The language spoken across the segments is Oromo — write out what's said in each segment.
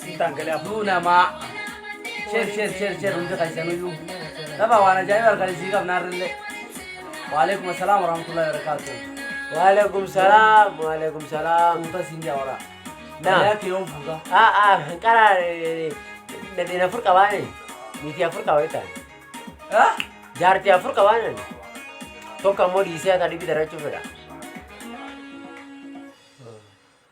Sitaan galee afuu namaa. Sheer sheer sheer sheer hundi keessaniyyuu. Dabaa waan ajaa'ibaa argan isii qabna har'illee. Waalaikum assalaam warahmatullahi wabarakatuh. Waalaikum salaam waalaikum salaam. Fuuta siin jaa waraa. Naa. Galee akka yoon fuuta. Ah ah hanqara nadheen afur qabaane niitii afur qaba jetaan. Ah? Jaartii afur qabaane tokko ammoo dhiisee akka dhibi darachuu fedha.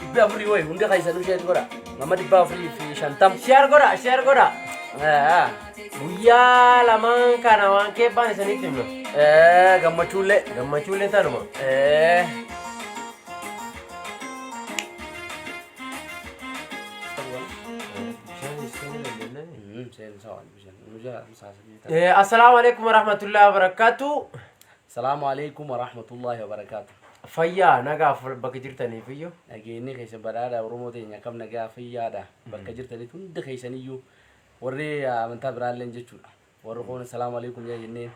Dhibbi afurii wayi hundi keessanuu sheer godha. Nama dhibba afurii fi shantam. Sheer godha sheer godha. Guyyaa lamaan kana waan keebbaan isinitti himna. Gammachuullee. Gammachuullee tanuma. Assalaamu alaikum warahmatullahi wabarakatuh. Salamu Aleykum Warahmatullahi Wabarakatu. Fayyaa nagaa bakka jirtaniifiyyu nageenyi keessa badhaadha Oromoo teenya akkam nagaa fayyaadha bakka jirtanitti hundi keessaniyyu warri amantaa biraalleen jechuudha. Warri koon salaamu alaikum yaa jennee.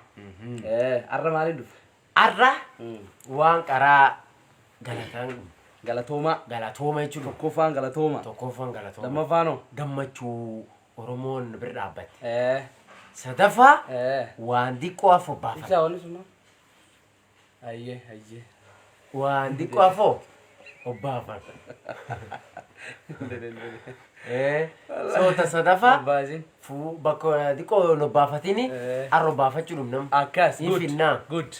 Arra maaliin dhufe? Arra waan qaraa galataan Galatoomaa. galatooma jechuudha. Tokkoffaan galatooma. Tokkoffaan galatooma. Lammaffaan hoo? Gammachuu. Oromoon bir dhaabbatte. Eh. Sadaffaa Eh. waan diqqoo afoo Ibsaa baafata. wanni sun. Ayyee ayyee. Waan diqqoo afoo obbaafata. Eh, Soota sadaffaa Abbaasin. fuu bakka diqqoo hin obbaafatini Eh. arra obbaafachuu dhumnam. Akkas. Ni good, finnaa. Good.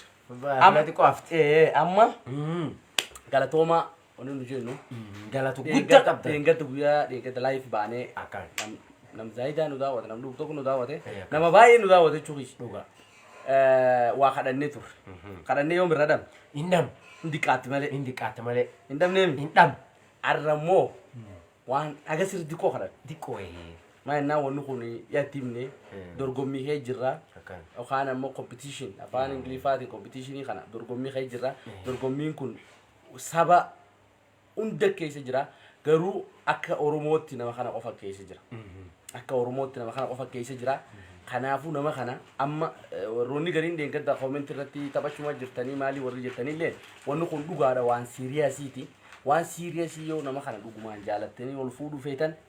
Amma diqqoo hafte. Eh, eh, amma Mm. galatoomaa. Wanni nu jennu Galatu guddaa dheengadda qabda. dheengadda guyyaa dheengadda live baanee Akkaan. nam- nam zaayidaa nu daawwate nam dhugu tokko nu daawwate Eh, akkas. nama baay'ee nu daawwate jechuu kiyya. Dhugaa. Eh, waa kadhannee turre. Kadhannee yoom irra dhabne? Hin dhamu. Hin diqqaatti malee. Hin diqqaatti malee. Hin dhabneemi. Hin dhamu. Arra immoo waan haga sirri diqqoo kadhanne. Diqqoo ee. Maa innaa wanni kun yaatti himne Mm. dorgommii kee jirra. Akkaan. Yookaan ammoo competition afaan Ingiliffaatiin competitionii kana dorgommii kee jirra. Dorgommiin kun saba hunda keessa jira garuu akka oromootti nama kana qofa keessa jira akka oromootti nama kana qofa keessa jira kanaafuu nama kana amma eh, warroonni gariin deengadda koomenti irratti taphachuma jirtanii maalii warri jettanillee wanni kun dhugaadha waan siiriyaasiiti waan siiriyaasii yoo nama kana dhugumaan jaalattanii ol fuudhuu feetan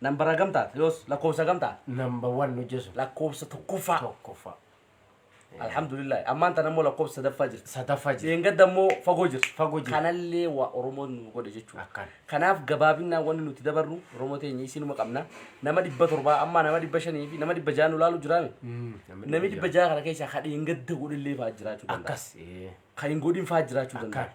Nambara gamtaa ti yoos lakkoofsa gamtaa. Number one nu jesu. Lakkoofsa tokkoffaa. Tokkoffaa. Alhamdulillah ammaan tana immoo lakkoofsa sadaffaa jirti. Sadaffaa jirti. Dheengadda immoo fagoo jirti. Fagoo jirti. Kanallee waa Oromoon nu godhe jechuudha. Akkan. Kanaaf gabaabinnaan wanni nuti dabarru Oromoo teenya isinuma qabna. Nama dhibba torbaa amma nama dhibba shanii fi nama dhibba ja'a nu laalu jiraame. Namni dhibba ja'a kana keessaa ka dheengadda godhillee fa'aa jiraachuu danda'a. Akkas. Ee. Kan hin godhin fa'aa jiraachuu danda'a. Akkan.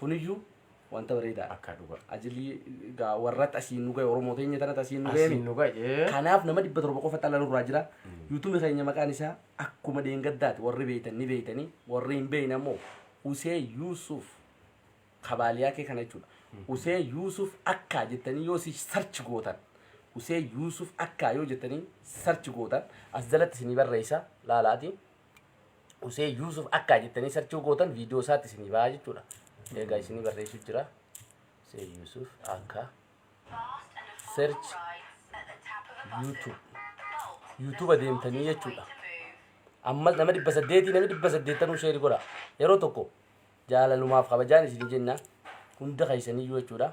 Kuniyyuu wanta bareedaadha. Akkaa dhugaa. Ajilii gaa warratti asiin nu gahe Oromoo teenya tanatti asiin nu gahe Asiin nu gahe. Kanaaf nama dhibba torba qofa xalla nurraa jira. Yuutuubi keenya maqaan isaa akkuma deengaddaati warri beeytan ni beeytanii warri hin beeyne ammoo Usee Yuusuf kabaaliyaa kee kana jechuudha. Usee Yuusuf akkaa jettanii yoo si sarchi gootan Usee Yuusuf akkaa yoo jettanii sarchi gootan as jalatti isinii barreessa laalaati. Husee Yuusuf akkaa jettanii sarchuu gootan viidiyoo isaatti isinii ba'aa jechuudha. Egaa isinii barreessuu jira. Husee Yuusuf akkaa search YouTube. YouTube deemtanii jechuudha. Ammas nama dhibba saddeetii namni dhibba saddeettanuu sheeri godha. Yeroo tokko jaalalumaaf kabajaan isin jenna hunda keessaniyyuu jechuudha.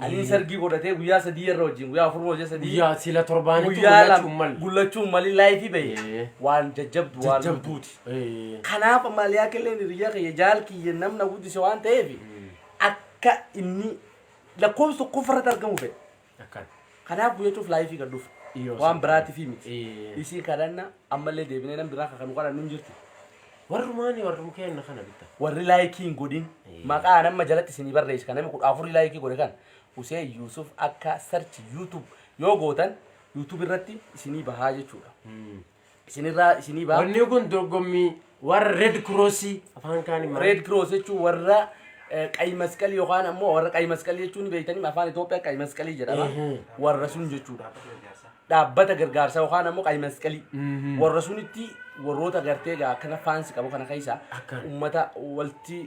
Anii Ee. sargii godhatee guyyaa sadii irra wajjin guyyaa afur hojii sadii Guyyaa sila torbaanitti guyyaa mul'achuu lama mal. gullachuun mali laayifii bahe Ee. waan jajjabdu waan Jajjabdu. lubbuuti. Ee. Kanaaf maaliyaa killeen hiriyyaa kiyya jaal kiyya namna guddise waan ta'eef akka inni lakkoofsa tokkoffaa irratti argamu fedhe. Akkana. Kanaaf guyyachuuf laayifii kan dhufe. Yoo Waan san biraatiifii miti. Ee. Isii kadhanna ammallee deebinee nam biraa kakanu kadhannu hin jirtu. Warrumaani warruu kenna kana bitta. Warri laayikii hin godhin. Ee. Maqaa nama jalatti isinii barreessi. Kan namni kudha afurii laayikii godhe kan. Useen Yuusuf akka sarchi YouTube yoo gootan YouTube irratti isinii bahaa jechuudha. isinirraa isinii ba'a. Wanni kun dorgommii warra Red Cross afaan kaaniin maal? Red Cross jechuun warra eh, qayi masqalii yookaan ammoo warra qayi masqalii jechuun ni beektanii afaan Itoophiyaa qayi masqalii jedhama. Ehe. Warra sun jechuudha. Dhaabbata gargaarsaa yookaan ammoo qayi masqalii. Mhm. Warra sunitti warroota gartee egaa akkana faansi qabu kana keessa Akkan. uummata walti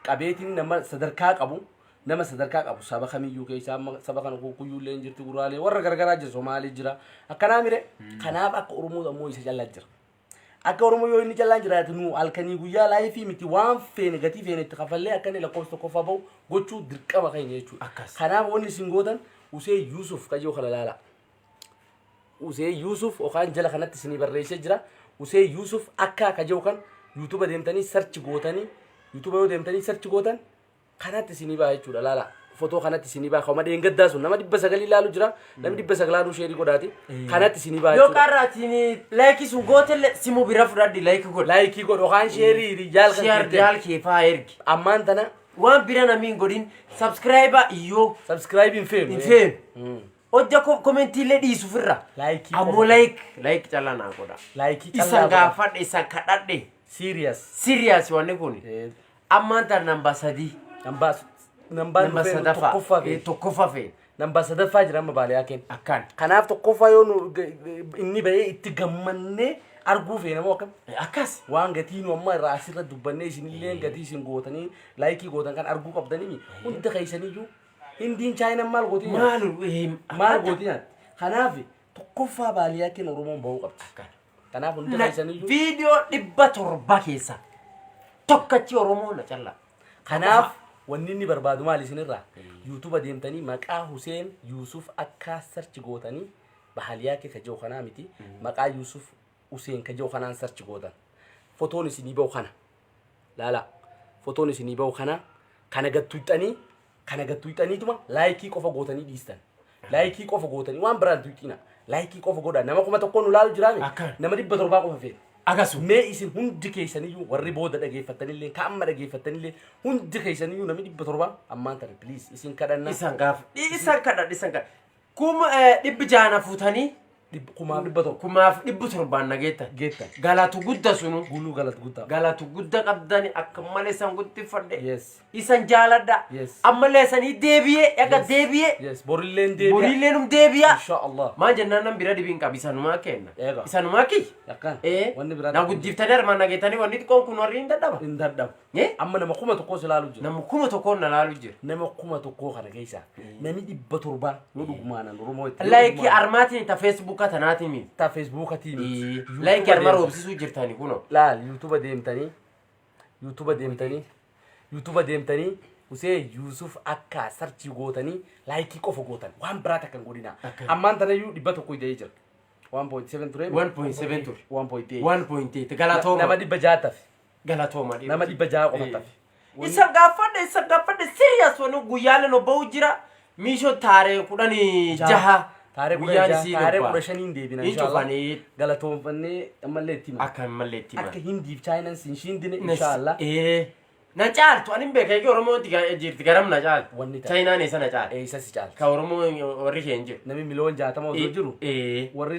qabeetiin nama sadarkaa qabu nama sadarkaa qabu saba kamiyyuu keessa amma saba kana kuukuyyuu illee hin jirti guraalee warra gargaraa jira somaalii jira akkanaa mire kanaaf akka oromoo ammoo isa callaa jira akka oromoo yoo inni callaan jiraate nu halkanii guyyaa laayifii miti waan feene gatii feene itti kafallee akka inni lakkoofsa tokkoffaa ba'u gochuu dirqama keenya jechuudha Akkas. kanaaf wanni isin gootan usee yuusuf kajoo kana laala usee yuusuf yookaan jala kanatti isinii barreessee jira usee yuusuf akka kajoo kan yuutuba deemtanii sarchi gootanii yuutuba yoo deemtanii sarchi gootan kanatti isinii ba'a jechuudha laala fotoo kanatti isinii ba'a ka'uma dheengaddaa sun nama dhibba sagalii laalu jira namni dhibba saglaanuu sheerii godhaati kanatti isinii ba'a Yoo jechuudha qarraatiin laayikii sun gootellee simu bira fudhadhi laayikii godha. laayikii godhu kaan sheerii hiriyaal kan Siyaar keettee jaal kee faa ergi. ammaan tana Waan bira namni hin godhin sabskiraayibaa iyyoo sabskiraayibii hin feenu hin feenu. Hojja koo komentiillee dhiisu firra. Laayikii Ammoo qofa. laayik laayik callaan haa godha. laayikii Isan gaafadhe isan kadhadhe. siiriyas Siriyaas wanni kun. Ammaan tan nambaa sadii. Nambaa nambaa Nambaa dhufee sadaffaa. tokkoffaa Eh, fe'e. Tokkoffaa fe'e. Nambaa sadaffaa jira amma baaliyaa kenna. Akkaan. Kanaaf tokkoffaa yoo nu inni ba'ee itti gammannee arguu feena moo akkam? Eh, Akkas. Waan gatii nu amma irraa asirra dubbannee isinillee gatii isin gootanii laayikii gootan kan arguu qabdanii hunda keessaniyyuu hindiin chaayinaan maal gootii nyaatti? Maal eh, Maal gootii nyaatti? Kanaaf tokkoffaa baaliyaa kenna Oromoon ba'uu qabdi. Akkaan. Kanaaf hundi Na- keessaniyyuu viidiyoo dhibba torba keessaa tokkachi oromoo na callaa kanaaf wanni inni barbaadu maal isinirraa yuutuba deemtanii maqaa Huseen Yuusuf akka sarchi gootanii bahaliyaa kee kajoo kanaa miti maqaa Yuusuf Huseen kajoo kanaan sarchi gootan fotoon isinii ba'u kana Laalaa. Fotoon isinii bahu kana kana gad tuyxanii kana gad tuyxaniituma laayikii qofa gootanii dhiistan. Laayikii qofa gootanii waan biraan tuyxiina. Laayikii qofa godha. Nama kuma tokkoon nu laalu jiraame. Akka. Nama dhibba torbaa qofa feena. Akasu. Mee isin hundi keessaniyyuu warri booda dhageeffattanillee ka amma dhageeffattanillee hundi keessaniyyuu namni dhibba torbaa ammaan tana please isin kadhanna. Isan gaaf. Isan kadha isan kadha. Kum eh, dhibbi jaha na fuutanii Dhib- Kumaaf dhibba tokko. kumaaf dhibbi torbaan na geettan. Geettan. Galatu gudda sunu. Guluu galata guddaa. Galatu gudda qabdani akka malee isan guddifadhe. Yes. Isan jaaladha. Yes. Ammallee isanii deebi'ee dhaga Yes. deebi'ee. Yes. Borilleen deebi'a. Boriillee num deebi'a. Insha Allah. Maan jennaan nan bira dhibiin qabi isanumaa kenna. Eega. Isanumaa kiyya. Yakka. Ee. Wanni biraa. Na guddiftanii armaan nageetanii wanni xiqqoon kun warri hin dadhaba. Hin dadhabu. Ee? Amma nama kuma tokkoo si laalu jira. Nama kuma tokkoon na laalu jira. Nama kuma tokkoo kana keessa nami dhibba torbaa yoo dhugumaanan Oromoo itti. Laayikii armaatiin ta feesbuukaa tanaatiin miti. ta Feesbuukatiin. Laayikii arma roobsisuu jirtani kunoo. Laal yuutuba deemtanii yuutuba deemtanii yuutuba deemtanii usee Yuusuf akka sarchii gootanii laayikii qofa gootan waan biraa takka hin godhinaa. Akka- Ammaan tanayyuu dhibba tokko ida'ee jira. 1.7 ture. 1.7 ture. 1.8. 1.8 Nama galatooma. dhibba jaatafi. Galatooma dhiiroti. Nama dhibba ja'a qofa tafe. Isan gaaffadhe isan gaaffadhe serious wani guyyaalee no ba'u jira miisho taaree kudhani jaha Taaree kudha guyyaan jaha, isiin taaree obbaa. kudha shaniin deebina Hin inshallah. cufanii. Galatoomfannee ammallee itti hima. akka hin mallee itti Akka himan. Hindiif Chaayinaan siin shiindine inshallah. Ee. Na caaltu ani hin beekaa eegi Oromoo itti ga- jirti garam na caaltu. Wanni ta'a. Chaayinaan eessa na caaltu. Eessa si caalta? Ka Oromoo warri kee hin jiru. Namni miliyoon jaatama osoo jiru Ee. warri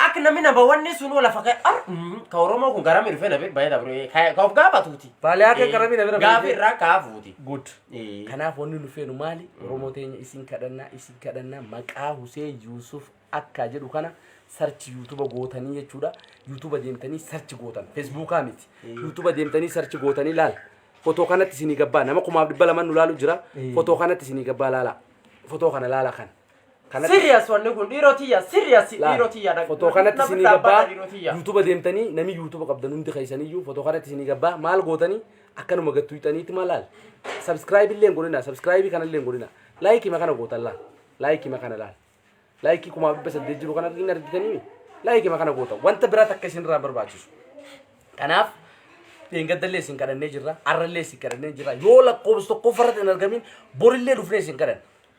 Ak nami na bawanni sun wala fake ar mm, ka oromo kun garami rufe na bek bayda bro ka ka of gaba tuti. Bale ake garami na bira Gafi bira. ra ka futi. Good. Eh. Kanaaf wanni nu feenu maali? Oromoo teenya isin kadhannaa isin kadhannaa maqaa Huseen Yuusuf akka jedhu kana sarchi yuutuba gootanii jechuudha. Yuutuba deemtanii sarchi gootan. Feesbuukaa miti. Yuutuba deemtanii sarchi gootanii laala. Fotoo kanatti isinii gabbaa nama kumaaf dhibba lamaan nu laalu jira. Fotoo kanatti isinii gabbaa laala. Fotoo kana laala kan. Kanatti- Serious wanni kun dhiiroo tiyya serious Laal, dhiiroo tiyya na- fotoo kanatti na isinii biraa gabbaa baadha dhiiroo tiyya. yuutuba deemtanii namni yuutuba qabdan hundi keessaniyyuu fotoo kanatti isinii gabbaa maal gootanii akkanuma gattu hixaniitti maal laal sabskraayibii illee hin godhina sabskraayibii kana illee hin godhina laayikii makana gootan laal laayikii makana laal laayikii kumaa dhibba saddeet jiru kana hin argitanii laayikii makana gootan wanta biraa takka isinirraa barbaachisu kanaaf dheengaddallee isin kadhannee jirra arrallee isin kadhannee jirra yoo lakkoofsa tokkoffaa irratti hin argamin borillee dhufnee isin kadhanna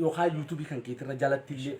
yookaan yuutuubii kan keetirra jalatti illee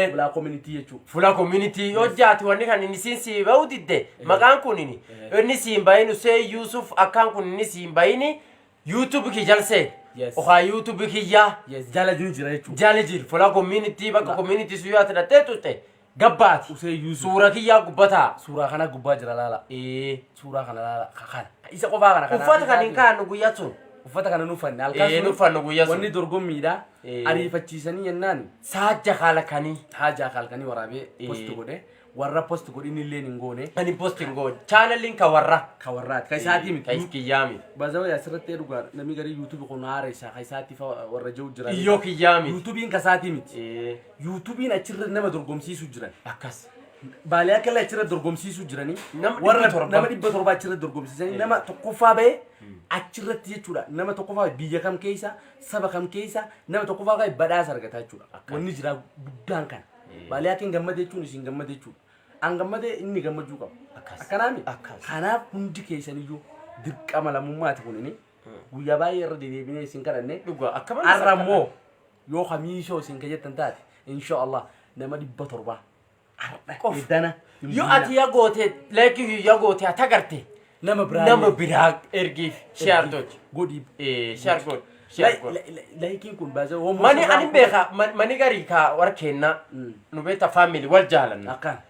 Ee. bulaa koominitii jechuudha. Fula community yoo jaati wanni kan inni siin sii ba'u didde maqaan kun inni Eh. inni siin bahin usee Yuusuf akkaan kun inni siin bahini YouTube kii jalsee Yes. okaa YouTube kiyyaa Yes, jala ni jira jechuudha. jali jir fula community bakka Fula- community sun yoo ati dhattee tutte Gabbaati. Usee yuusu. Suura kiyyaa gubbataa. Suuraa kana gubbaa jira laala. Ee suuraa kana laala. Ka kana. Ka Isa qofaa kana kana. Uffata kan hin kaa'annu guyyaa sun. Uffata kana nuffanne halkan Ee, sun. nuffannu guyyaa sun. Wanni dorgommiidha. Ee. Ariifachiisanii jennaan Saajja kaala kanii. haajaa kaalkanii waraabee Ee. post godhe. Warra post godhin illee hin goone. Ani post hin goone. Chaanaliin ka warra. Ka warraati. Ka isaatii miti. Ka iskiyyaa miti. Bazawa asirratti dhugaa namni garii yuutuubi kun haara isaa ka isaatiif warra jiru jira. Iyyoo kiyyaa miti. Yuutuubiin ka isaatii miti. Ee. Yuutubiin achirra nama dorgomsiisu jiran. Akkas. Baalee akka illee achirra dorgomsiisu jiranii. Nama dhibba Warra torba. nama dhibba torba achirra dorgomsiisanii nama tokkoffaa ba'e achirratti jechuudha. Nama tokkoffaa ba'e biyya kam keessa saba kam keessa nama tokkoffaa ba'e badhaasa argata jechuudha. Akkas. Wanni jiraa guddaan kana. Eh. Baalee akka hin gammade jechuun isin gammade jechuudha. An gammade inni gammachuu qaba. Akkas. Akkanaami. Akkas. Kanaaf hundi keessaniyyuu dirqama lammummaati kunini. Guyyaa baay'ee irra dedeebinee isin kadhanne. Dhugaa akka malee Har'a immoo yoo kamiishoo isin ka jettan taate insha Allah nama dhibba torbaa har'a Qof. edana hin Yoo bulina. ati ya goote laakii ya goote haa tagalte nama biraa nama biraa ergiif share tochi. godhi Eh, share godhi. Share godhi. laayikiin kun baasee homo Mani ani beeka man- mani garii kaa warra keennaa Mm. nu beekta faamili wal jaalanna. akkan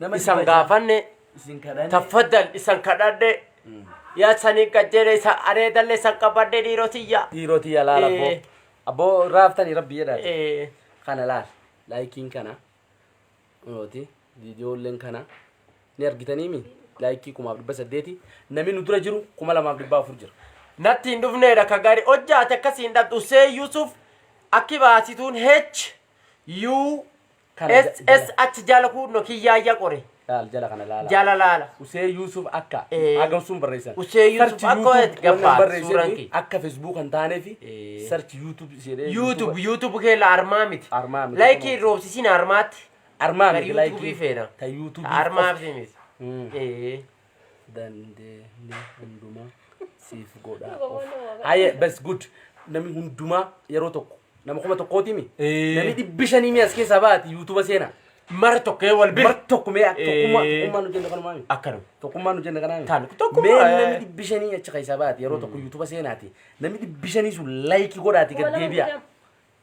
Nama isan dhiba isa- gaafanne Isin kadhanne. taffadan isan kadhadhe yaa sanii qajeele isa areedalle isan qabadhe dhiirotiyya dhiiroti yaa laala abboo Eh. abboo raaftanii rabbi jedhaati Eh, kana laal laayikiin kana nuti viidiyoolleen kana ni argitaniimi laayikii kumaaf dhibba saddeeti namni nu dura jiru kuma lamaaf dhibba afur jira natti hin dhufneedha ka gaarii hojjaate akkasiin dhadhu see yuusuf akki baasituun h u Kana ja- jala- SSH jala kuunno kiyyaayya qore. laal jala kana laala. Jala laala. Usee Yuusuf akka Ee. hagam sun barreessan. Usee Yuusuf Search akka YouTube gabbaa, waan barreesseef suuraan kee. akka Facebook kan taaneef Ee. search YouTube jedhee YouTube YouTube kee la armaa miti. Armaa miti. Laayikii roobsisiin armaatti. armaa Kan miti YouTube laayikii feena. ta YouTube Armaa miti. Mm. Ee. dandeenye hundumaa siif godhaa of. Haye bas good namni hundumaa yeroo tokko nama kuma tokkooti mi Ee. namni dhibbi shanii mi as keessaa baati yuutuuba seenaa Mara tokkee wal bira. mar tokko mee tokkummaa Ee. tokkummaa nu jenna kanumaa mi Akkanuma. tokkummaa nu jenna kanaa mi Taanu tokkummaa, mee ee. namni dhibbi shanii achi keessaa baati yeroo tokko yuutuuba seenaati namni dhibbi shanii sun laayikii godhaati gad deebi'a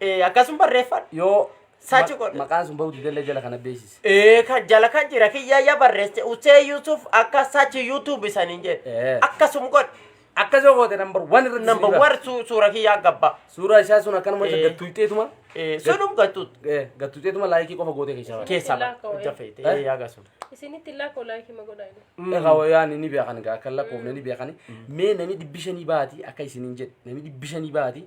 Eh, Akkasuma barreeffadhu. Yoo Sachi ma- godhe. maqaan sun bahuu didellee jala kana beeksisi. Eh, ka jala kan jira kiyya ya barreesse Usee Yusuf akka sachi YouTube isaaniin jedhe. Eh. Akkasuma godhe. Akkas yoo goote nambar waan irratti Number sirrii one su- suura kiyyaa gabba. ba'a. Suuraa isaa sun akkanuma isa Eh. gattuuxxeetuma. Eh, Sunum gattuut. Eh, Gattuuxxeetuma laayikii qofa gootee keessaa baate. Keessaa Ilaa koo, ba'a. eh. Jafeete. Eh? Eh, yaa gasun. Isinitti illaa koo laayikii ma godhaa inni. Egaa wayaan ni beekan egaa akka lakkoofne ni beekan. Mee namni dhibbi shanii baati akka isiniin jedhe namni dhibbi shanii baati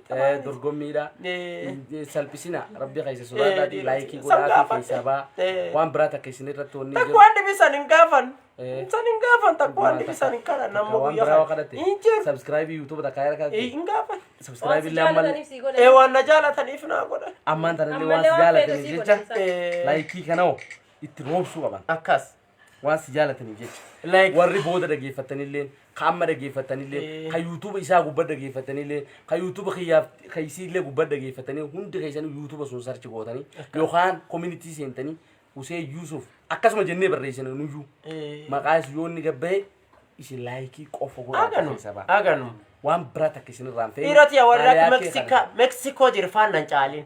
Eh, dorgommiidha Eh. Eh, salphisina rabbi keessa Eh, sodaadhaati dhiiroti. laayikii San godhaafi gaafadhe. keessaa baa Eh. waan biraa takka isin irratti wanni jiru Takwaan dhibisan hin gaafan. Eh. San hin gaafan takwaan dhibisan hin kadhan amma waan guyyaa biraa kana. kadhate Hin jiru. sabskiraabii yuutuuba takkaa irra Eh, kadhate Hin gaafan. sabskiraabii illee ammal Ee waan na jaalataniif naa godhan. ammaan tanallee waan Ammallee si waan jaalataniif feetu si jecha godhan. Eh, laayikii kana hoo itti roobsuu qaban Akkas. waan si jaalataniif jecha Like. warri booda dhageeffattanillee ka amma dhageeffattanillee Eh. ka yuutuuba isaa gubba dhageeffattanillee ka yuutuuba kiyyaaf ka isiillee gubba dhageeffattanii hundi keessanii yuutuuba sun sarchi gootanii yookaan koominitii seentanii usee yuusuuf akkasuma jennee barreessina nuyyuu Eh. maqaa isu yoo inni gabba'e isin laayikii qofa godhaa Aganu. keessa ba'a Aganu. waan biraa takka isin irraan fe'e Dhiiroti warra Meksika Meksiko jirfaan nan caaliin.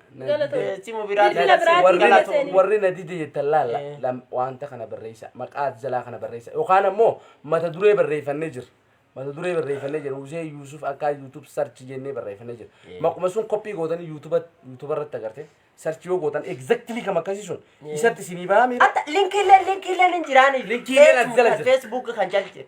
Galatoomi. Eh, simu biraa Bilbila biraa Warri- bilbila Galatoom. seenii. warri na dide jettan laalla Eh. lam- wanta kana barreessa maqaa ati jalaa kana barreessa yookaan ammoo mata duree barreeffannee jira mata duree barreeffannee jira Husee Yuusuf akka YouTube search jennee barreeffannee jira Eh. maquma sun koppii gootanii YouTube YouTube irratti agarte search yoo gootan exactly kam akkasii sun isatti isinii bahaa miira Atta linkiileen linkiileen hin jiraani. Linkiileen as jala jira. Facebook kan jala jira.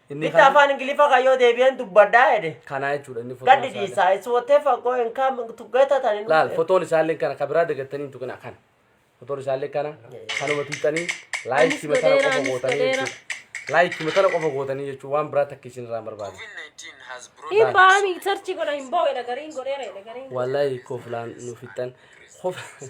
Inni Bitta kan- afaan Ingiliffaa kan yoo deebi'een dubbadhaa jedhe. Kanaa jechuudha inni fotoon Gaddi isaa illee. dhiisaa. It's whatever going come to get at an Laal fotoon isaa illee kana kan biraa dagattanii hin tuqinaa kana. Fotoon isaa illee kana kanuma tuqxanii laayikii Anis matana godheera, qofa anis gootanii godheera. jechuudha. Laayikii matana qofa gootanii jechuudha waan biraa takka isin irraa barbaadu. COVID-19 has brought Hin baami sarchi godha hin boo'edha gariin godheera jedhe gariin. Wallahi koflaan nu fixxan. Kof-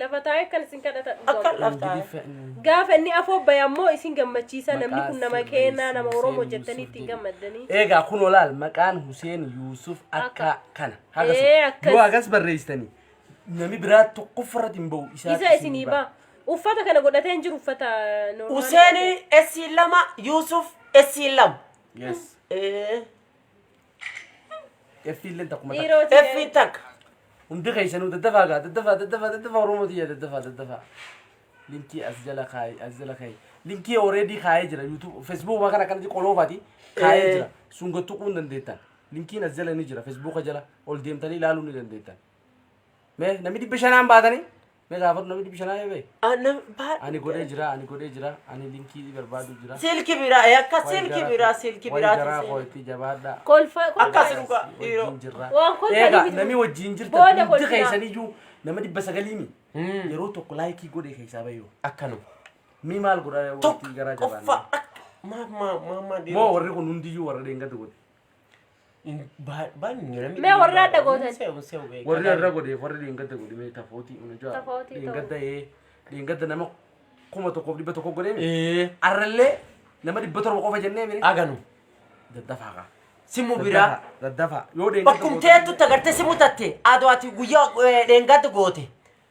Lafa taa'ee akkan isin kadhata dhugaa. Akka laftaa. Ingiliffa inni. Gaafa inni afoo bahe ammoo isin gammachiisa namni kun nama Maqaa keenyaa nama Hussein Oromoo Yusuf jettanii ittiin jedhu. gammaddanii. Eegaa kun olaal maqaan Huseen Yuusuf akka Akka. kana. Ee, Hagasuma. akkas. Yoo hagas barreessitanii nami biraa tokkoffaa irratti hin ba'u. Isaa Isa isinii ba'a. Uffata kana godhatee hin jiru uffata normaal. Huseenii essi lama Yuusuf essi lama. Yes. Ee. Effiilleen takkuma takka. Dhiiroo ta'e. Effiin takka. Hundi keessanuu daddafaa gaa daddafaa daddafaa daddafaa Oromoo tiyya daddafaa daddafaa. Linkii as jala kaa'e as jala kaa'e. Linkii already kaa'ee jira YouTube Facebook waan kana kanatti qoloofaati kaa'ee Eh. jira. Sun gad tuquu hin dandeettan. Linkiin as jala ni jira Facebook jala ol deemtanii ilaaluu ni dandeettan. Mee namni dhibba shanaan baatanii Mee taa fudhu namni dhibbi shanaa yoo ba'e. Ana baadhu. Ani godhee jira, ani godhee jira, ani linkii barbaadu jira. Silki biraa eh, akka Wayi silki gara- biraa silki wayi biraa garaa koo itti jabaadha. Kolfa Akkas dhugaa Wajjin dhiiroo. jirra. Waan kolfa Eegaa dhibitu. namni wajjin jirta Booda hundi kolfinaa. keessaniyyuu nama dhibba sagaliimi. Yeroo tokko laayikii godhe keessaa bayyoo. Akkanuma. Mi maal godha Tokko wanti garaa qoffa jabaanne. akka maa maa maa maa Moo dhiiroo. warri kun hundiyyuu warra deengatu godhe. Mee warri adda gootan. warri irra godheef warri dheengadda godhe mee tafootii una jaa Tafootii ta'u. dheengadda ee dheengadda nama kuma tokkoof dhibba tokko godhee mee Ee, arrallee nama dhibba torba qofa jennee mee aganu. daddafaa kaa Simu biraa. daddafaa yoo dheengadda Bakkum teettu tagartee simu tatte aduu ati guyyaa eh, dheengadda goote.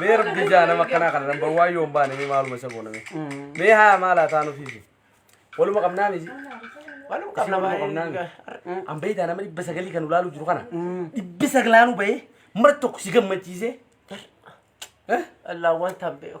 Mee rabbi jaa nama akkanaa kana namba waan yoon baane mee maaluma isa goona mee. Mee haa maal haa taanu fiifi. Waluma qabnaa miti. Walum Isin waluma qabnaa miti. qabna An beeytaa nama dhibba sagalii kan ulaaluu jiru kana. Dhibbi saglaanuu bahee mara tokko si gammachiisee. Eh? Allah wanta beeku.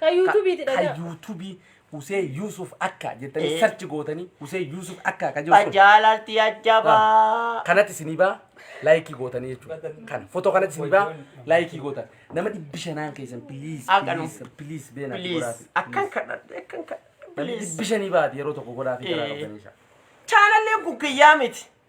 Kan YouTube ti dhagaa. Kan YouTube Husee Yuusuf Akka jettanii eh. sarchi gootanii Husee Yuusuf Akka akka jirtu. Ajaalalti ajjabaa. Kanatti isinii baa laayikii gootanii jechuudha. Kan foto kanatti isinii baa laayikii gootan. Nama dhibbi shanaan keessan please please please beena godhaati. Akkan kadhadhe akkan kadhadhe. Dhibbi shanii baati yeroo tokko godhaati garaa qabdanii. Chaanallee guggiyyaa miti.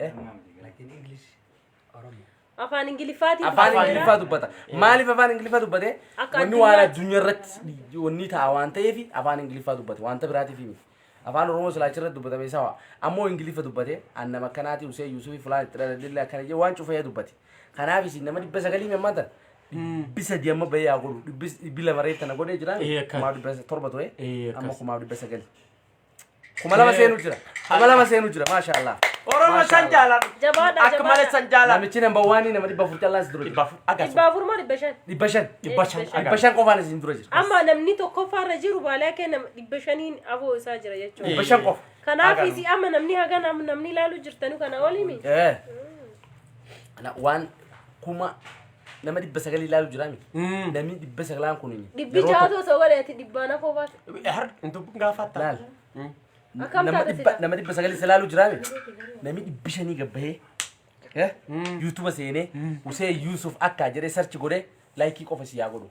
Lakin English Oromo. Afaan Ingiliffaatiin afaan jira. ingiliffaa dubbata maaliif afaan ingiliffaa dubbate Akka wanni waan addunyaatti. addunyaa irratti wanni ta'a waan ta'eef afaan ingiliffaa dubbate wanta biraatiif miti afaan oromoo silaachi irratti dubbatame sawa ammoo ingiliffa dubbate annam akkanaati usee yuusufi fulaan itti dhaladhille akkana jee waan cufee dubbate kanaaf isin nama dhibba sagalii memmaa tan dhibbi sadii amma bahee haa godhu dhibbi dhibbi lama reettana godhee jira Ee, akkan. kumaaf dhibba torba ture Ee, akkas. amma kumaaf dhibba sagalii kuma lama seenu jira kuma lama seenu jira maasha allah Oromo san jaaladhu. Jabaadha, Akka malee jabaadha. san jaaladhu. namichi namba waanii nama dhibba afur callaan si dura jira Dhibbaaf Dhibba akkasuma. afur moo dhibba shan? dhibba shan Dhibba shan dhibba agarra. shan qofaan isin dura jira Amma namni tokkoffaarra jiru baalaa kee nama dhibba shaniin aboo isaa jira jechuudha. dhibba shan qofa Kanaaf Agarra. isi amma namni haga nam- namni ilaalu jirtanu kana olimi. Eh. Ana waan kuma nama dhibba sagal ilaalu jira miti. Mm. Namni dhibba sagalaan kun Dhibbi yeroo jaatu tokko- osoo godheeti dhibbaan hafoo baate. Har hin dubbin gaafatta. Laal. Mm. Akkam Nama taate dhibba- sila? nama dhibba sagal ilaalu jira miti. Namni dhibbi shanii gabbahee eh, Mm. yuutuba seenee Husee Yuusuf akka jedhee sarchi godhee laayikii qofa si yaa godhu.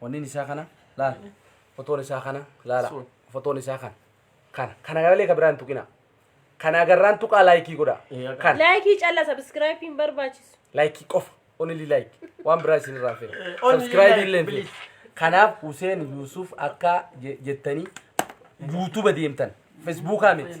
Wannin isaa kana laala. Fotoon isaa kana laala. Sun. Fotoon isaa kana. Kana. Kana malee ka biraa hin tuqina. Kana agarraan tuqaa laayikii godha. Eh, akka- Kana. Laayikii calla sabiskiraayipii hin barbaachisu. Laayikii qofa. Only like. Waan biraa isin irraa fedha. Eh, only Subscribe like, illee hin please. fedha. Kanaaf Huseen Yuusuf akka je- jettanii YouTube deemtan. Facebookaa miti.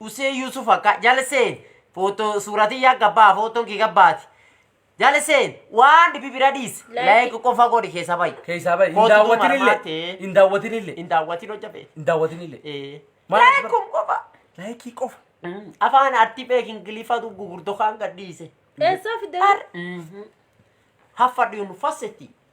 usee yusuf akka jalseen foto suuraa tiyyaa gabbaa fotoon kee gabbaati jalseen waan dhibi bira dhiis Like. like qofa godhi keessa bayi Keessaa bahi. Hin Kootu daawwatinillee. marmaatee. Hin daawwatinillee. hin daawwatin hojja beeku Hin daawwatinillee. ee Maal as like kun qofa Laayikii qofa. Mm, afaan artii beek ingiliffatu gugurdo kaan gadhiise Eessaa fidee? haffadhiinu fassetti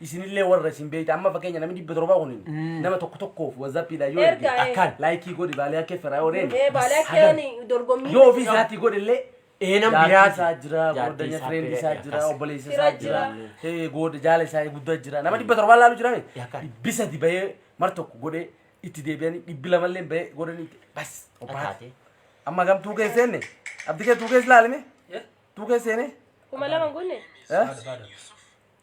isinillee warra isin beeyta amma fakkeenya namni dhibba torba kun nama tokko tokkoof wazappiidhaan yoo erge Erga, eh. akkaan laayikii godhi baalee akka firraa yoo deemu Ee, baalee akka sagal. ani dorgommii yoo ofii isaatii godhe illee Eenan jaartii biraati. isaa jira Jaartii gordanya isaa fireendi isaa biraati, jira akkas. obboleessa Fira isaa jira jira. eh, gooda jaala isaa guddaa jira nama dhibba torbaa laalu jira Yakka. dhibbi sadi bahee mar tokko godhee itti deebi'anii dhibbi lamallee bahee godhanii itti bas obbaate Ataate. amma gam tuukee seenne abdi kee tuukee silaalime tuukee seene kuma lama gunne eh?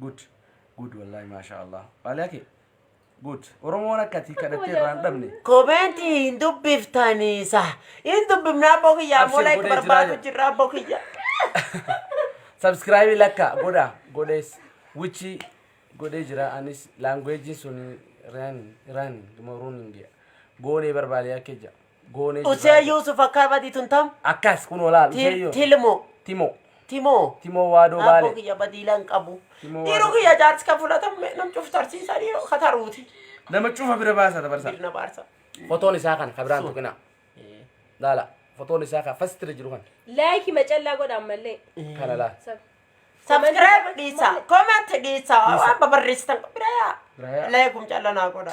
Good. Good wallahi masha Allah. Waliya kee. Good. Oromoon akkati kadhattee irraa hin dhabne. Koomeentii hin dubbiftanii sa. Hin dubbifnaa abboo kiyyaa Abshir, mola itti godhee jiraa barbaadu jira. jirra abboo kiyyaa. Subscribe lakka godha godhees wichi godhee jira anis language sun ran ran moruun hin gee. Goonee barbaadee akka jira. Goonee jirraa. Usee Yuusuf akkaa badii tun tam? Akkas kun olaal. Til- Usee yoo. Tilmo. Timo. Timoo. Timoo waadoo Abboo baale. kiyya badii lan qabu. Timoo Dhiiruu waadoo. kiyya jaarsi kan fudhatamme nam cufu tarsiisaa dhiiroo kataruuti. Nama cufa bira baasa dabarsa. Dirna baarsa. Fotoon isaa kana kabiraan tuqinaa. Laala. Fotoon isaa kana fastira jiru kana. Laayikii macallaa godha ammallee. Kana laala. Sab- Subscribe dhiisa. Comment dhiisa. Waan babarreessitan bira yaa. Bira yaa. Laayigum callanaa godha.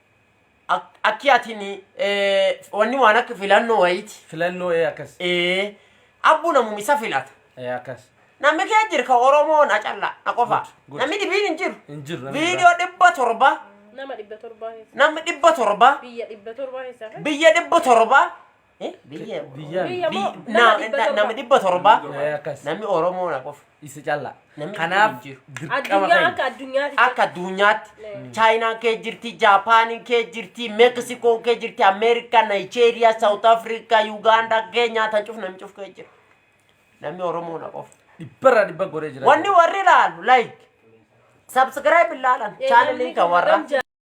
Ak- akki atin eh, wanni waan akka filannoo wayiiti filannoo ee akkas Eh, abbu namum isa filata ee akkas namni kee jir ka oromoo na calla na qofa Good, good. namni dhibiin hin jiru hin jiru namni viidiyoo dhibba torba nama dhibba torbaa keessa namni dhibba torba biyya dhibba torbaa keessa biyya dhibba torba Eh, biyya Biyya- Biyya moo Bi- nama na- dhibba na- torba. nama dhibba torba Eh, akkas. namni oromoo na qofa Isa callaa. Namni Kanaaf hin jiru. dirqama Addunyaa keenya. akka addunyaatti. akka addunyaatti Mm. chaayinaan kee jirti jaapaaniin kee jirti meeksikoon kee jirti ameerikaa naayijeeriyaa saawut afrikaa yugaandaa keenyaa tan cuf namni cuf kee jira namni oromoo na qofa Dhibbarraa dhibba goree jira. wanni warri ilaalu like subscribe ilaalan Eh, chaanaliin namni kan warra kan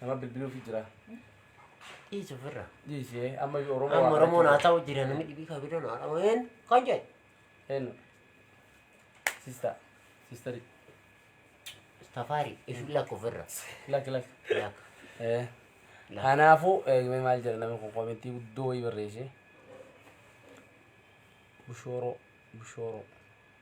Nama bilbiluufi jira. Dhiisu ofirra. Dhiisee amma iyyuu Oromoo Amma waa Oromoon haa kadhachuu ta'u jira namni dhibii kan fidan haa ta'u een kan jedhu. jira. Eenyu? Sista. Sistari. Tafaari isu lakka ofirra. Lak lak. Lakka. Eh. Lak. Kanaafuu eegmee maal jedha namni kun komentii guddoo wayii barreessee. Bushooroo. Bushooroo.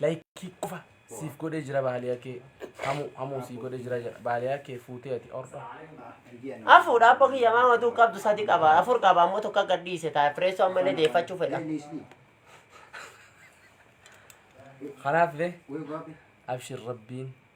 Laykii qofa siif godhee jira baaliyaa kee. Hamuu hamuu sii godhee jira jedha. Baaliyaa kee fuutee ati orda. Afuudha abbo kiyya maa matuu qabdu sadi qaba afur qaba ammoo tokko akka dhiise ta'a fireessoo ammallee deeffachuu fedha. Kanaaf illee abshir rabbiin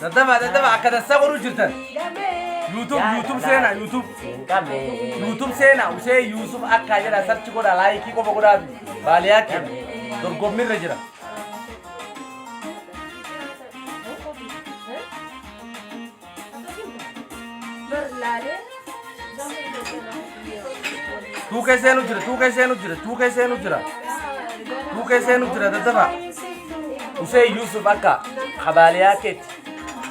Daddaba daddaba akka dansaa godhuu jirtan. YouTube YouTube seenaa YouTube. YouTube seenaa Usee Yuusuf akka jedha sarchi godha laayikii qofa godhaa fi baaliyaa kenna dorgommirra jira. Tuukee seenu jira, tuukee seenu jira, tuukee seenu jira. Tuukee seenu jira dadhabaa. Hussein Yusuf akka habaaliyaa keetti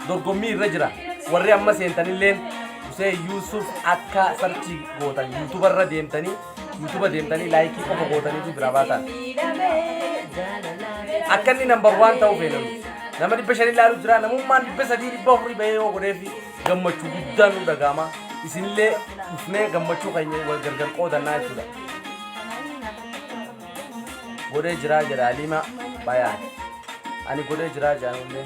dorgommii irra jira. Warri amma seentanilleen Hussein Yusuf akka sarchii gootan yuutubarra deemtanii Yuutuba deemtanii laayikii qofa gootaniitu biraa baataan. Akka inni nambar waan ta'uu beekan. Nama dhibba shanii ilaalu jira namummaan dhibba sadii dhibba afurii bahee yoo godheefi gammachuu guddaan nu dhaga'ama. Isinillee dhufnee gammachuu keenya wal gargar qoodannaa jechuudha. Godhee jiraa jedha Aliimaa baay'aan. Ani godhee jiraa jedhan illee.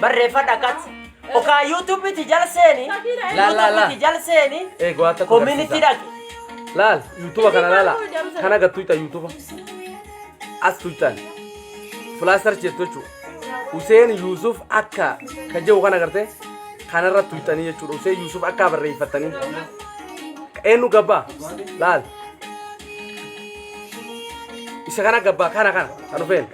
barreeffadha kat okaa yuutuubii ti jal seeni La, la, la. yuutuubii ti jal seeni Ee go'aa takka koominitii dhaqe Laal yuutuuba kana laala. Kana gad tuyxan yuutuuba. As tuyxan. Filaastar jettu jechuudha. Huseen Yuusuf akka ka jedhu kana gartee kanarra tuyxanii jechuudha. Huseen Yuusuf akka barreeffattanii. Eenyu gabbaa? Laal. Isa kana gabbaa kana kana kan dhufeen.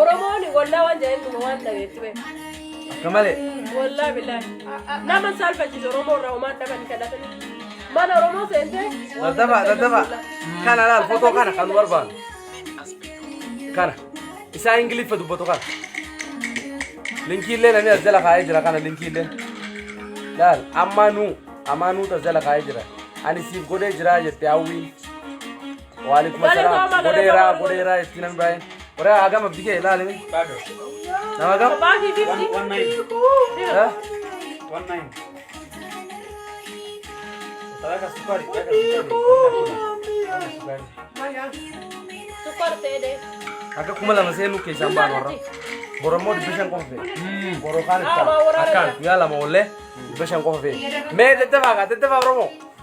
Oromoon wallaa waan jaa'een dhuma waan dhabeetti bee. Akka malee. Wallaa bilaa. Nama hin saalfachiisu Oromoo irraa homaan dhabanii kadhatanii. Mana Oromoo seentee. Daddafaa daddafaa. Kana laal fotoo kana kan nu barbaadu. Kana. Isaa Ingiliffa dubbatu kana. Linkiillee namni as jala kaa'ee jira kana linkiillee. Laal ammaa nuu ammaa nuu tas jala kaa'ee jira. Ani siif godhee jiraa jette hawwiin. Waalaikum assalam. Godheera, godheera itti namni baay'een. Warra hagam abdi kee ilaali. Nama hagam? Eh? Akka kuma lama seenuu keessaan baan warra. Borommoo dhibba shan qofa fee. Boroo kaan itti ta'a. Akkaan guyyaa lama oollee dhibba shan qofa fee. Mee daddafaa kaa daddafaa Oromoo.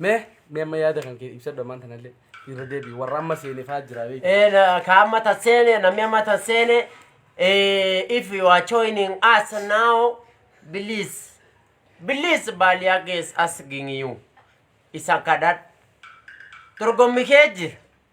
mee mee amma yaada kan kee ibsadhu ammaan tanallee irra deebi'i warra amma seene fa'aa jira beeku And uh, kama tasene na mema tasene eh, if you are joining us now please please baliage is asking you isakadad turgomikeji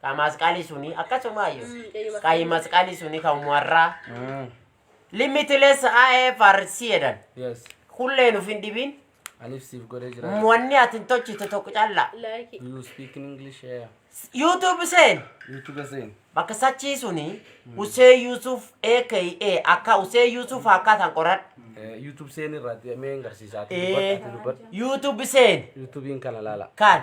Ka masqali suni akkasuma ayyo. Ka masqali suni ka umwarra. Ah, Limitless IFRC jedhan. Yes. Kullee nuuf hin dhibin. Aniif siif godhee jira. Wanni ati hin tolchite tokko calla. Like. Do you speak in English? Yeah. YouTube seen. YouTube seen. Bakka sachii suni Usee Yusuf aka akka Usee Yusuf akka tan qoradha. Eh, YouTube seen irratti mee hin garsiisa. Ati Eh. dubbadhu, ati dubbadhu. YouTube seen YouTube'n kana laala. kan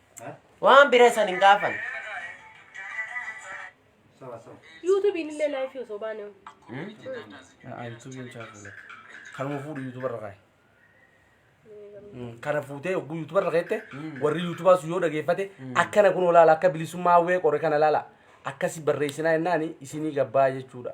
Waan bira isan hin gaafan. Yuutuubiin illee laayifii osoo baane. Kanuma fuudhu yuutubarra kaa'i. Kana fuutee yogguu yuutubarra keette warri yuutubaa sun yoo dhageeffate akkana kun olaala akka bilisummaa hawwee qore kana laala akkasi barreessinaa jennaani isinii gabbaa jechuudha.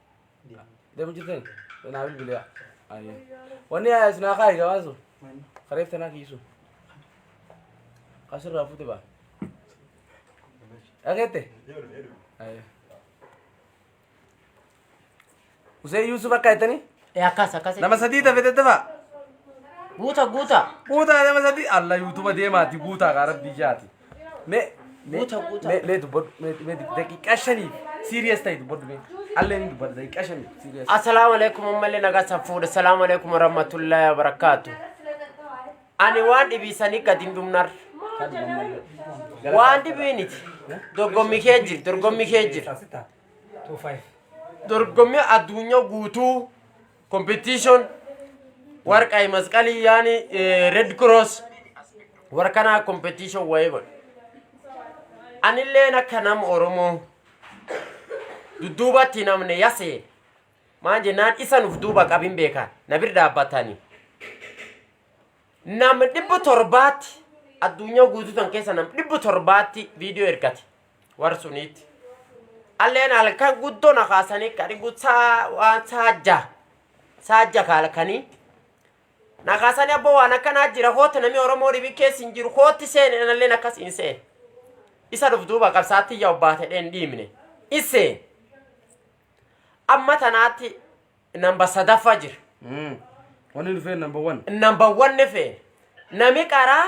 Deemu jirteen? Naa bilbilaa. Ayyee. Wanni yaa isin haa kaayi gabaan sun. Kareef tanaa kiisu. Asirraa fuute baa. Dhageette? Ayyee. Usee Yuusuf akka jettanii? Ee akkas akkas. Nama sadii tafe tattafaa? Guuta guuta. Guutaa nama sadii? Alla yuutuba deemaati guutaa kaa rabbii jaati. Mee mee Guuta, guuta. mee mee dubbadhu mee mee daqiiqaa shaniif siiriyees ta'e dubbadhu mee allee ni dubbadha daqiiqaa shaniif siiriyees. Assalamu alaikum ummalle naga safuudha. Assalamu alaikum warahmatullahi wabarakatuh. Ani waan dhibiisanii gadi hin dhumnar. Waan dhibiiniti. Dorgommi kee jir, dorgommi kee jir. Dorgommi addunyaa guutuu competition warqai masqali yani eh, red cross warkana competition waegon anilleen akka nam oromoo dudduubatti namne yasee maan jennaan isa nuf duuba qabin beekan na bir dhaabbatanii nam dhibbu torbaatti addunyaa guutuu tan keessa nam dhibbu torbaatti viidiyoo ergate War suniitti. Alleen halkan guddoo na kaasanii kani gutsaa waan saajja. Saajja kaalkanii. Na kaasanii abboo waan akkanaa jira kootti namni Oromoo dhibi keessa hin jiru kootti seene analleen akkas hin seene. Isa dhuf duuba qabsaatti yaa obbaate dheen dhiimne. Iseen. Amma tanaatti namba sadaffaa jira. Wanni dhufee number one. Namba wanni feene. Nami qaraa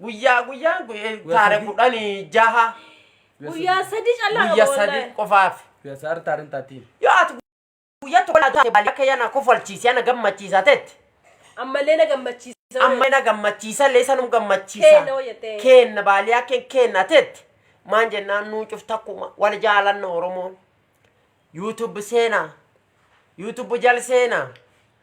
Guyyaa guyyaa guyyaa taare sadii. kudhanii jaha Guyyaa sadii callaa guyya qaba sadii wallahi. qofaaf. Guyyaa saar taarin taatii. Yoo ati guyyaa tokko laa taate baali akka yana kofalchiise yana gammachiisa tetti. Ammallee na gammachiisa. Amma na gammachiisa illee sanum gammachiisa. Keenna hoo jettee. Keenna baali akka keenna tetti. Maan jennaan nuu cuf takkuma wal jaalanna Oromoon. YouTube seenaa. YouTube jal seena.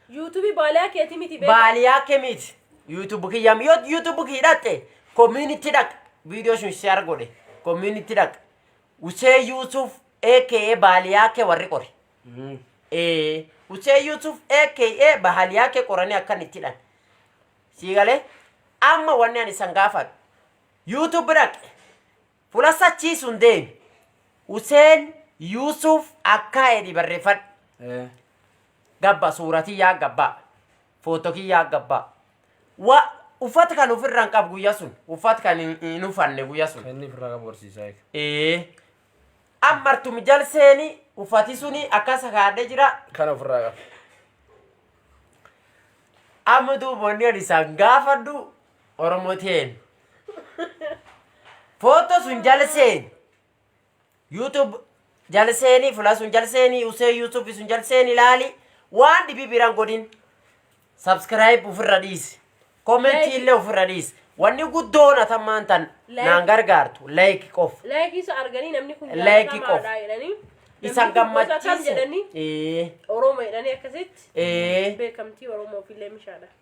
Yuutuubii baaliyaa keetii miti beekaa. Baaliyaa kemiit. YouTube kiyyaam yoo YouTube kii dhatte community dhaq video sun share godhe community dhaq. Usee Yuusuf aka baaliyaa kee warri qori. Eh, Usee Yuusuf aka baaliyaa kee qoranii akkan itti dhan. Sii galee amma wanni ani isan gaafadhu. YouTube dhaq. Fulassachii sun deemi. Useen Yuusuf akkaa edhi barrefadhu. Eh. Gabba suura tiyyaa gabba. Footto kiyyaa gabba. Wa uffat kan ufirra hin qabu guyya sun. Uffat kan hin- hin ufanne guyya sun. Kenni firraa qabu barsiisaa eega. Ee. Ammartu mijal seeni uffati suni akkasa kaadhe jira. Kana ofirraa qabu. Amma duuba wanni ani isaan gaafadhu Oromo teen. Foto sun jala seeni. YouTube jala seeni, fula sun jala seeni, usee YouTube sun jala seeni ilaali. Waan dhibii biraan godhin. Subscribe ofirra dhiisi. Comment Like. illee ofirra dhiisi. Wanni guddoon atammaan tan Like. naan gargaartu. Like qof. Laayikii isa arganii namni kun Laayikii qof. jaalatamaadha jedhanii. Isan namni kun gosa kam jedhanii gammachiise. Ee. Oromo jedhanii akkasitti Ee. beekamtii Oromoof illee mishaadha.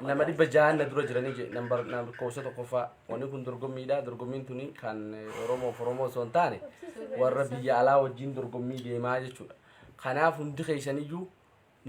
nama dhibba jahan na dura jiranii jedhe nambar lakkoofsa tokkoffaa wanni kun dorgommiidha dorgommiin tuni kan oromoof oromoo osoo hin taane warra biyya alaa wajjin dorgommii deemaa jechuudha kanaaf hundi keessaniyyuu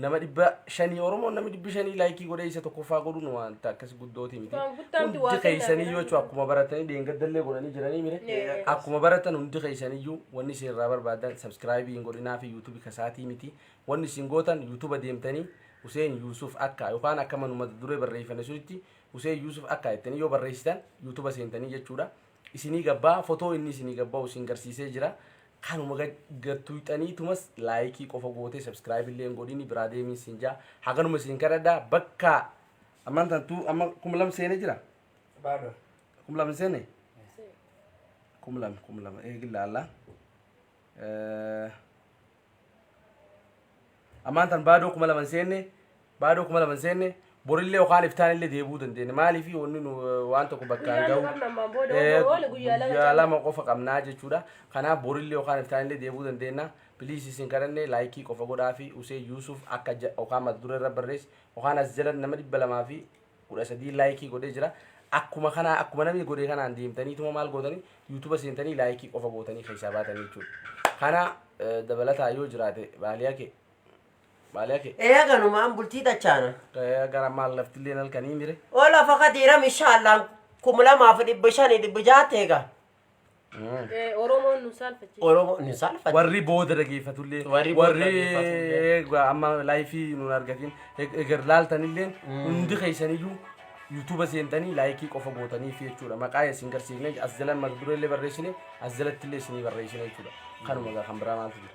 nama dhibba shanii oromoon namni dhibbi shanii laayikii godhee isa tokkoffaa godhuun wanta akkas guddooti miti Waan guddaa miti, waa hundi keessaniyyuu kennaaf. jechuudha akkuma baratanii deengaddallee godhanii jiranii mire Ee. akkuma baratan hundi keessaniyyuu wanni isin irraa barbaadan sabskiraayibii hin godhinaa fi yuutuubii kasaatii miti Wanni isin gootan youtube deemtanii Huseen Yuusuf Akkaa yokaan akka manuma mata duree barreeyfane sunitti Huseen Yuusuf Akkaa jettanii yoo barreeysitan youtube seentanii jechuudha isinii gabbaa fotoo inni isinii gabba'u isin garsiisee jira kanuma gad gad tuyxaniitumas laayikii qofa gootee subscribe illee hin godhini biraa deemiin siin jaa haganuma isin kadhadha bakkaa ammaan tan tuu amma kum lam seene jira Baadoo. kum lam hin seene kum lam kum lam eegi laallaa Eh, Ammaan tan baadoo kuma lama hin seenne, baadoo kuma lama hin seenne, borillee yookaan iftaanillee deebi'uu dandeenya. Maaliif wanni nu waan tokko bakkaan Guyyaan gahu qabna ammaan booda eh, yoo oole guyyaa lama guyyaa caala. lama qofa qabnaa jechuudha. Kanaaf borillee yookaan iftaanillee deebi'uu dandeenya. Piliis isin kadhanne laayikii qofa godhaa fi Usee Yuusuf akka ja- yookaan mata duree irra barreessi yookaan as jala nama dhibba lamaa fi kudha sadii laayikii godhee jira. Akkuma kanaa akkuma namni godhee kanaan deemtaniituma maal gootanii yuutuuba seentanii laayikii qofa gootanii keessaa baatanii jechuudha. Kana eh, dabalataa yoo jiraate baaliyaa kee baaliyaa kee Ee kanumaan bultii tachaana. eh, gara maal laftillee halkanii mire. Ola fakati ram inshallah kum lama fi dhibba shani dhibba jaha teega. Eh, Oromoon nu saalfachiisa. Oromoo ni saalfate. warri booda dhageeffatullee Warri booda warri dhageeffatullee. egaa amma laayifii nun argatiin eg- egar laaltanillee hundi keessaniyyuu yuutuuba seentanii laayikii qofa gootanii fi jechuudha maqaa isin garsiifne as jalan maqdureellee barreessine as jalattillee isinii barreessine jechuudha kanuma egaa kan biraa maaltu jira